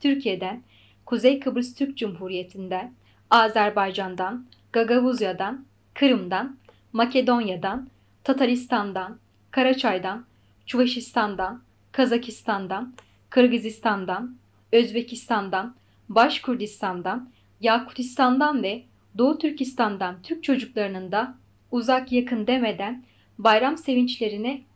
Türkiyeden, Kuzey Kıbrıs Türk Cumhuriyetinden, Azerbaycandan, Gagavuzyadan, Kırımdan, Makedonyadan, Tataristandan, Karaçaydan, Çuvaşistandan, Kazakistandan, Qırğızistandan, Özbekistandan, Baş Kürdistandan, Yakutistandan ve Doğu Türkistandan Türk çocuklarınında uzaq-yaqın demeden bayram sevinçlerine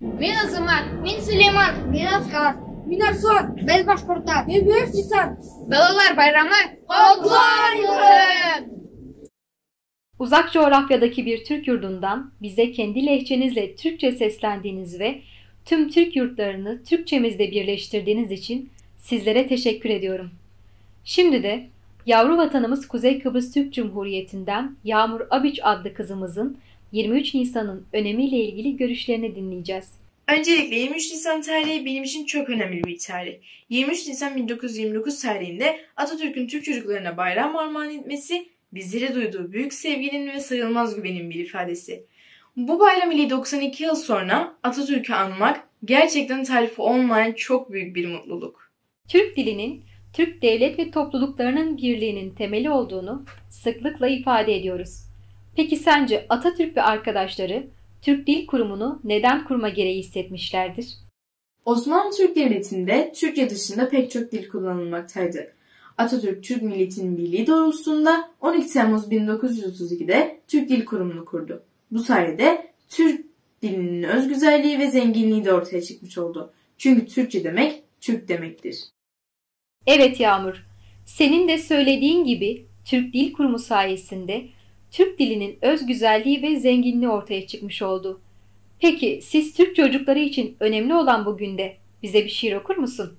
Men Azamat. Men Suleyman. Men Askar. Men Arslon. Men Başqurta. Men Büyük Cisan. Balalar bayramı qutlu olsun! Uzaq coğrafyadaki bir Türk yurdundan bize kendi lehçenizle Türkçe seslendiğiniz ve tüm Türk yurtlarını Türkçemizde birleştirdiğiniz için sizlere teşekkür ediyorum. Şimdi de yavru vatanımız Kuzey Kıbrıs Türk Cumhuriyetinden Yağmur Abiç adlı kızımızın Yirmi üç Nisannıñ önemi ile ilgili görüşlerini diñleycez. Öncelikle, yirmi üç Nisan tarihi benim içün çoq önemli bir tarih. Yirmi üç Nisan bin dokuz yüz yirmi dokuz tarihinde Atatürk'ün Türk çocuklarına bayram armağan etmesi, bizlere duyduğu büyük sevginiñ ve sayılmaz güveniñ bir ifadesi. Bu bayram ile doqsan eki yıl sonra Atatürk'ü anmaq, gerçekten tarifi olmayan çoq büyük bir mutluluk. Türk diliniñ, Türk devlet ve toplulıqlarınıñ birliğiniñ temeli olduğunu sıqlıqla ifade ediyoruz. Peki sence Atatürk ve arqadaşları Türk Dil Kurumunu neden kurma gereği issetmişlerdir? Osmanlı Türk Devletinde Türkçe dışında pek çok dil kullanılmaktaydı. Atatürk Türk milletiniñ birliği doğrultusında on iki Temmuz bin dokuz yüz otuz ekide Türk Dil Kurumunu kurdu. Bu sayede Türk. Tilniñ öz güzelliği ve zenginliği de ortaya çıkmış oldı. Çünki Türkçe demek, Türk demektir. Evet Yağmur, senin de söylediğin gibi Türk Dil Kurumu sayesinde Türk diliniñ öz güzelliği ve zenginliği ortaya çıkmış oldu. Peki, siz Türk çocukları için önemli olan bu günde bize bir şiir okur musun?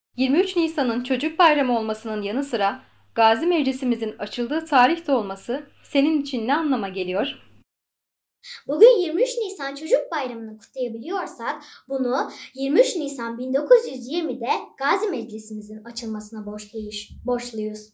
Yirmi üç Nisannıñ Çocuk bayramı olmasınıñ yanı sıra Gazi Meclisimizin açıldığı tarih de olması seniñ içün ne anlama geliyor? Bugün yirmi üç Nisan Çocuk bayramını qutlayabiliyorsaq, bunı yirmi üç Nisan biñ dokuz yüz yirmi de Gazi Meclisimizin açılmasına borçluyuz.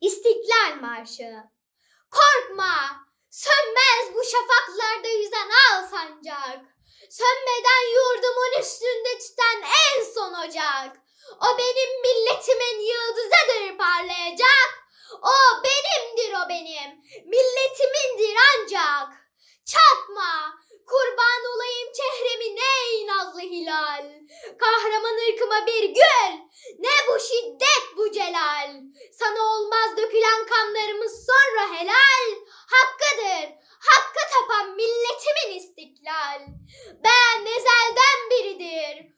İstiklâl marşı. Qorqma, sönmez bu şafaqlarda yüzen al sancaq, Sönmeden yurdumun üstünde tüten en son ocaq, O benim milletimin yıldızıdır parlayacaq, O benimdir, o benim milletimindir ancaq. Çatma, qurban olayım çehremine, ey nazlı hilâl! Qahraman ırkıma bir gül! Ne bu şiddet, bu celâl! Sana olmaz dökülen qanlarımız sonra helâl! Haqqıdır, haqqı tapan milletimin istiklâl! Ben ezelden biridir.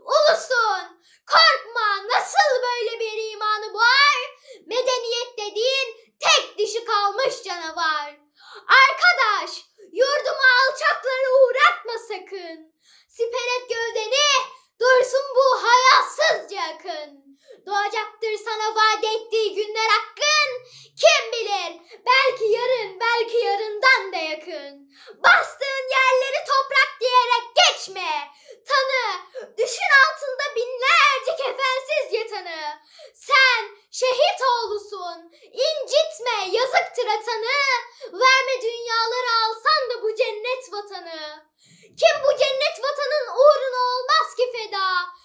Ulusun! Qorqma! Nasıl böyle bir imanı bar? Medeniyet dediğin tek dişi qalmış canavar! Arqadaş, yurduma alçaqları uğratma sakın! Siperet gövdeni, dursun bu hayasızca akın! Doğacaqtır sana vaad ettiği günler aqqın! Kim bilir, belki yarın, belki yarından da yaqın! Bastığın yerleri toprak diyerek geçme, tanı, Düşün altında binlerce kefensiz yatanı. Sen şehit oğlusun, incitme, yazıktır atanı, Verme dünyaları alsan da bu cennet vatanı. Kim bu cennet vatanın uğruna olmaz ki feda,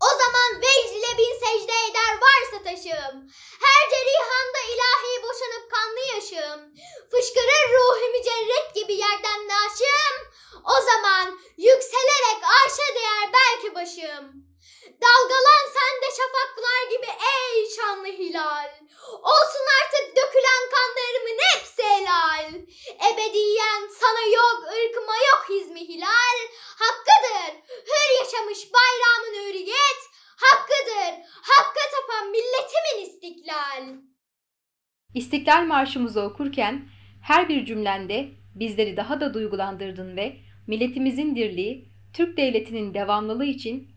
O zaman vecd ile bin secde eder varsa taşım, Her cerihanda ilahiy boşanıp qanlı yaşım, Fışqırır ruh-i mücerred kibi yerden naşım, O zaman yükselerek arşa deyer belki başım. Dalgalan sen de şafaqlar kibi ey şanlı hilâl! Olsun artıq dökülen qanlarımın epsi elâl, Ebediyen sana yoq ırkıma yoq hizmi hilâl. Haqqıdır, hür yaşamış bayramın üriyet, Haqqıdır, haqqı tapan milletimin istiklâl. İstiklâl marşımızı okurken her bir cümlende bizleri daha da duygulandırdın ve milletimizin dirliği, Türk devletinin devamlılığı için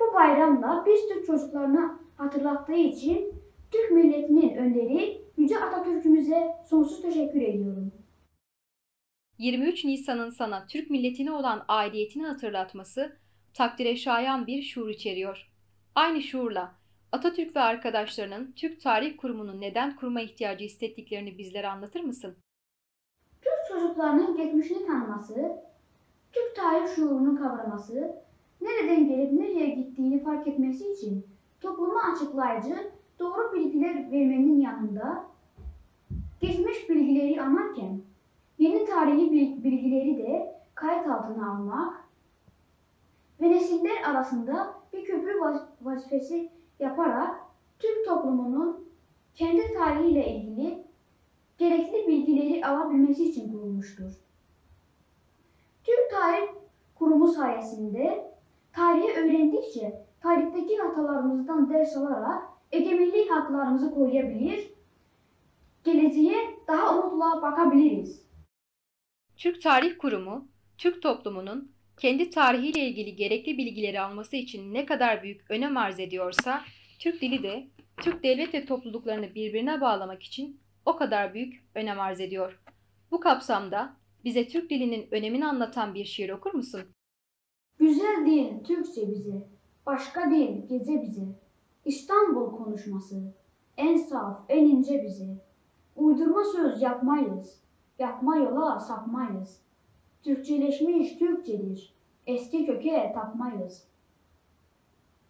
Bu bayramlar biz türk çocuqlarına atırlattığı içün Türk milletiniñ önderi yüce Atatürkümize soñsuz teşekkür ediyorum. Yirmi üç Nisan insana Türk milletine olan aidiyetini atırlatması takdire şayan bir şuur içeriyor. Aynı şuurla, Atatürk ve arqadaşlarınıñ Türk Tarih Kurumunı neden kurma ihtiyacı issettiklerini bizlere anlatır mısın? Türk çocuqlarınıñ keçmişini tanıması, Türk tarih şuurını qavraması, nereden kelip nereye gittiğini fark etmesi içün toplumu açıqlayıcı doğru bilgiler vermenniñ yanında, keçmiş bilgileri añarken yeni tarihiy bilgileri de qayıt altına almaq ve nesiller arasında bir köprü vazifesi yaparaq Türk toplumınıñ kendi tarihi ile ilgili kerekli bilgileri ala bilmesi içün qurulmıştır. Türk Tarih Qurumı sayesinde tarihi öyrendikçe, tarihteki hatalarımızdan ders alaraq, egemenlik haqlarımızı qoruya bilir, geleceğe daha umutla baqa biliriz. Türk Tarih Kurumu, Türk toplumunıñ kendi tarihi ile ilgili gerekli bilgileri alması içün ne qadar büyük önem arz ediyorsa, Türk dili de Türk devlet ve topluluqlarını birbirine bağlamak içün o qadar büyük önem arz ediyor. Bu kapsamda bize Türk diliniñ önemini añlatan bir şiir okur musın? Güzel deñ Türkçe bize, Başqa deñ gece bize, İstanbul konuşması, Eñ saf, eñ ince bize. Uydurma söz yapmayız, Yapma yola sapmayız, Türkçeleşmiş Türkçedir, Eski köke tapmayız.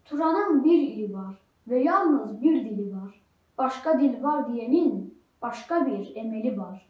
Turanıñ bir ili var Ve yalnız bir dili var, Başqa dil var diyeniñ Başqa bir emeli var.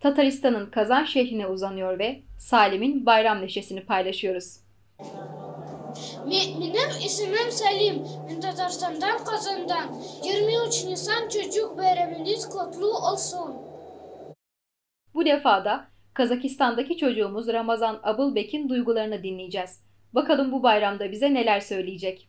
Tataristannıñ Kazan şehrine uzanıyor ve Salim'iñ bayram neşesini paylaşıyoruz. Menim isimim Salim. Men Tatarstandan, Kazandan. Yirmi üç Nisan çocuq bayramıñız qutlu olsun. Bu defa da Kazakistandaki çocuğumuz Ramazan Abılbekin duygularını dinleycez. Baqalım bu bayramda bize neler söyleycek.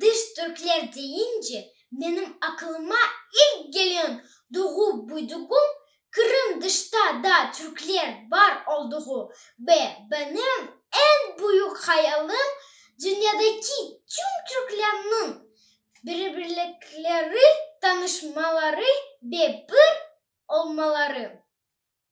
Dış türkler deyince, menim aqılıma ilk gelen doğup-büyüdügüm Qırım dışta da türkler bar olduğu ve benim en büyük hayalım dünyadaki tüm türklerniñ birbirlikleri tanışmaları ve bir olmaları.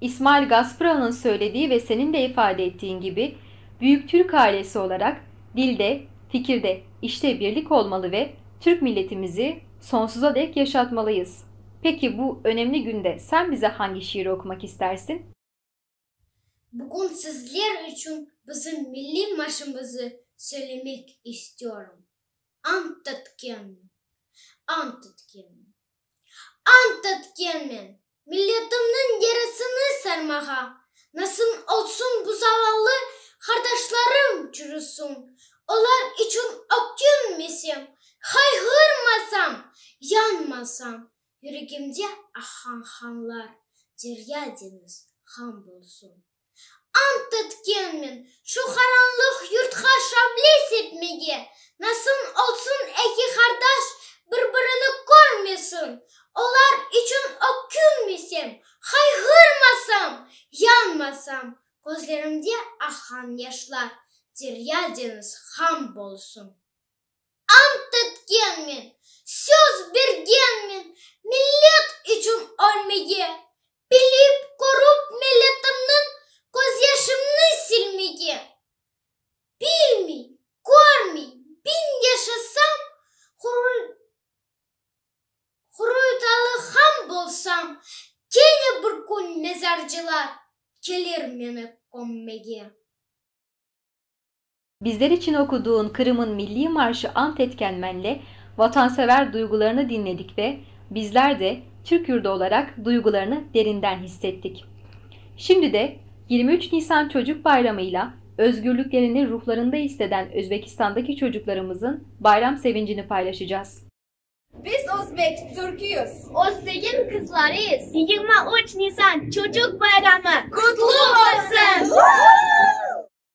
İsmail Gasprılnıñ söylediği ve seniñ de ifade ettiğiñ kibi, büyük Türk ailesi olaraq, dilde, fikirde, işte birlik olmalı ve Türk milletimizi sonsuza dek yaşatmalıyız. Peki, bu önemli künde sen bize hangi şiiri okumak istersin? Bugün sizler içün bizim milliy marşımızı söylemek istiyorum. Ant etkenmen, ant etkenmen. Ant etkenmen, milletimniñ derisini sarmağa, Nasın olsun bu zavallı qardaşlarım çürüsün, Olar içün ökünmesem, hayğırmasam, yanmasam, Yüregimde aqan qanlar derya-deñiz qan bolsun. Ant etkenmen, şu qaranlıq yurtqa şable sepmege, nasıl olsun eki qardaş bir-birini körmesin, olar içün ökünmesem, hayğırmasam, yanmasam, közlerimde aqan yaşlar derya-deñiz ham bolsun. Ant etkenmen, söz bergenmen millet içün ölmege, bilip, körüp milletimniñ közyaşımnı silmege. Bilmey, körmey biñ yaşasam, Huruytalı han bolsam, kene bir kün mezarcılar kelir meni kömmege. Bizler içün okuduğın Qırım'ın milliy marşı ant etken menle vatansever duyğularını diñledik ve bizler de, Türk yurdu olaraq, duyğularını derinden hissettik. Şimdi de, yirmi üç Nisan Çocuq Bayramıyla özgürlüklerini ruhlarında isdeden Özbekistandaki çocuqlarımızın bayram sevincini paylaşacaz. Biz özbek, türküyüz. Özbegiñ qızlarıyız. Yigirmi üç Nisan Çocuq Bayramı qutlu olsun!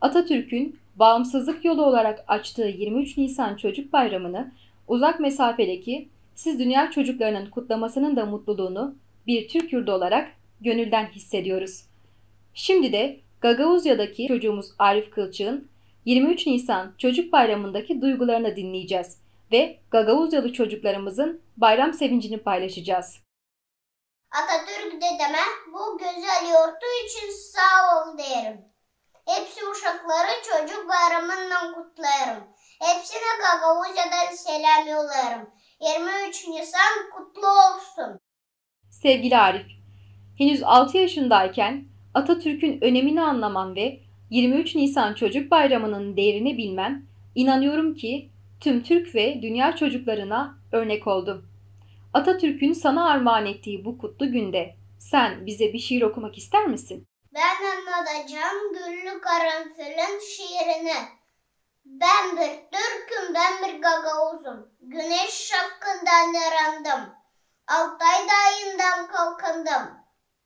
Atatürkün bağımsızlıq yolu olaraq açtığı yirmi üç Nisan Çocuq Bayramını uzaq mesafedeki siz dünya çocuqlarınıñ qutlamasınıñ da mutluluğunu bir Türk yurdu olaraq göñülden hissediyoruz. Şimdi de Gagauzyadaki çocuğumuz Arif Kılçığıñ yirmi üç Nisan Çocuq Bayramındaki duyğularını diñleycez ve gagauzyalı çocuqlarımızıñ bayram sevincini paylaşacaz. Atatürk dedeme bu gözel yortu içün sağ ol derim. Epsi uşaqları çocuq bayramınnen qutlayırım. Epsine Gagauziyadan selâm yollayırım. Yirmi üç Nisan qutlu olsun! Sevgili Arif, henüz altı yaşındayken Atatürk'ün önemini anlamam ve yirmi üç Nisan Çocuq Bayramı'nın değrini bilmem, inanıyorum ki, tüm Türk ve dünya çocuklarına örnek oldu. Atatürkün saña armağan ettiği bu qutlu günde sen bize bir şiir oqumaq ister misin? Ben añlatacam Güllü qaranfilin şiirini. Ben bir türküm, ben bir gagauzum, Güneş şafqından erandım, Altay dayından qalqındım,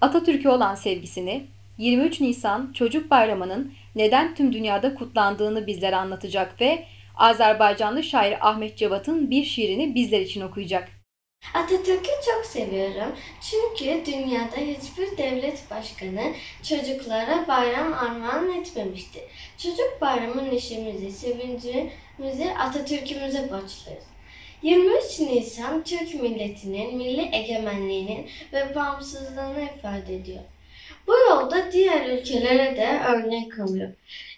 Atatürk'e olan sevgisini, yirmi üç Nisan Çocuq Bayramınıñ neden tüm dünyada qutlandığını bizlere añlatacaq ve azerbaycanlı şair Ahmet Cevat'ıñ bir şiirini bizler içün oquycaq. Atatürk'ü çoq seviyorum, çünki dünyada hiç bir devlet başqanı çocuqlara bayram armağan etmemiştir. Çocuq Bayramı neşemizi, sevincimizi Atatürk'imize borçluyız. Yigirmi üç Nisan türk milletiniñ milliy egemenliğiniñ ve bağımsızlığını ifade ediyor. Bu yolda diğer ülkelere de örnek alıyor.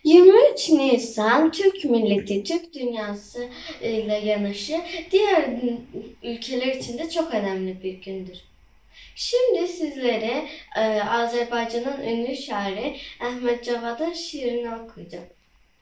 Yigirmi üç Nisan türk milleti, türk dünyası ile yanaşı diğer ülkeler içün de çoq önemli bir gündür. Şimdi sizlere Azerbaycanıñ ünlü şairi Ahmet Cavad'ın şiirini okuycam.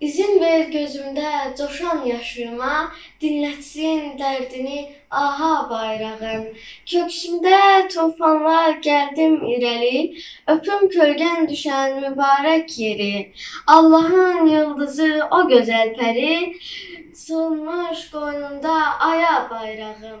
İzin ver közümde coşan yaşıma, Diñletsin derdini ağa bayrağım. Köksümde tufanlar geldim ireli, Öpüm kölgen düşen mübarek yeri. Allahın yıldızı o gözel peri, Sığınmış qoynunda aya bayrağım.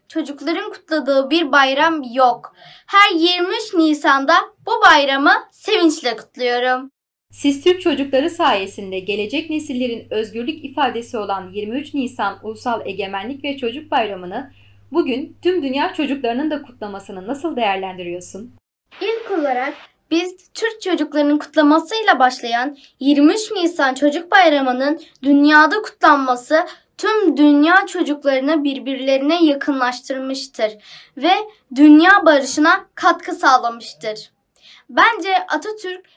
Çocuqlarıñ qutladığı bir bayram yoq. Her yirmi üç Nisanda bu bayramı sevinçle qutluyorum. Siz Türk çocuqları sayesinde gelecek nesillerin özgürlük ifadesi olan yirmi üç Nisan Ulusal Egemenlik ve Çocuq Bayramını bugün tüm dünya çocuqlarınıñ da qutlamasını nasıl değerlendiriyorsun? İlk olaraq, biz türk çocuqlarınıñ qutlaması ile başlayan yirmi üç Nisan Çocuq Bayramınıñ dünyada qutlanması tüm dünya çocuqlarını bir-birlerine yaqınlaştırmıştır ve dünya barışına qatqı sağlamıştır. Bence Atatürk,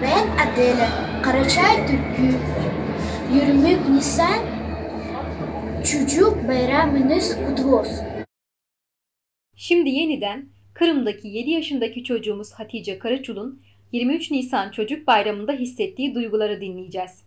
Men Adele, Qaraçay tükü, yirmik Nisan, çucuq bayramıñız qutlu olsun! Şimdi yeniden, Qırımdaki yedi yaşındaki çocuğumuz Hatice Karaçul'un yirmi üç Nisan çocuk bayramında hissettiği duyguları diñleycez.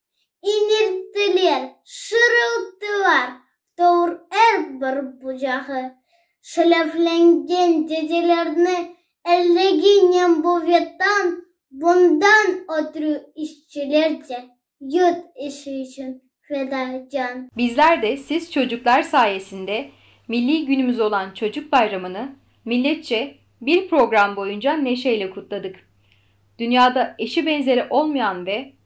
inilttiler, şırılttılar, tovur er bir bucağı, şeleflengen dedelerni ellegi nem bu ve tan, bundan ötrü işçiler de yurt işi içün feda can. Bizler de siz çocuklar sayesinde milliy günümüz olan Çocuk Bayramı'nı milletçe bir program boyunca neşeyle kutladık. Dünyada eşi benzeri olmayan ve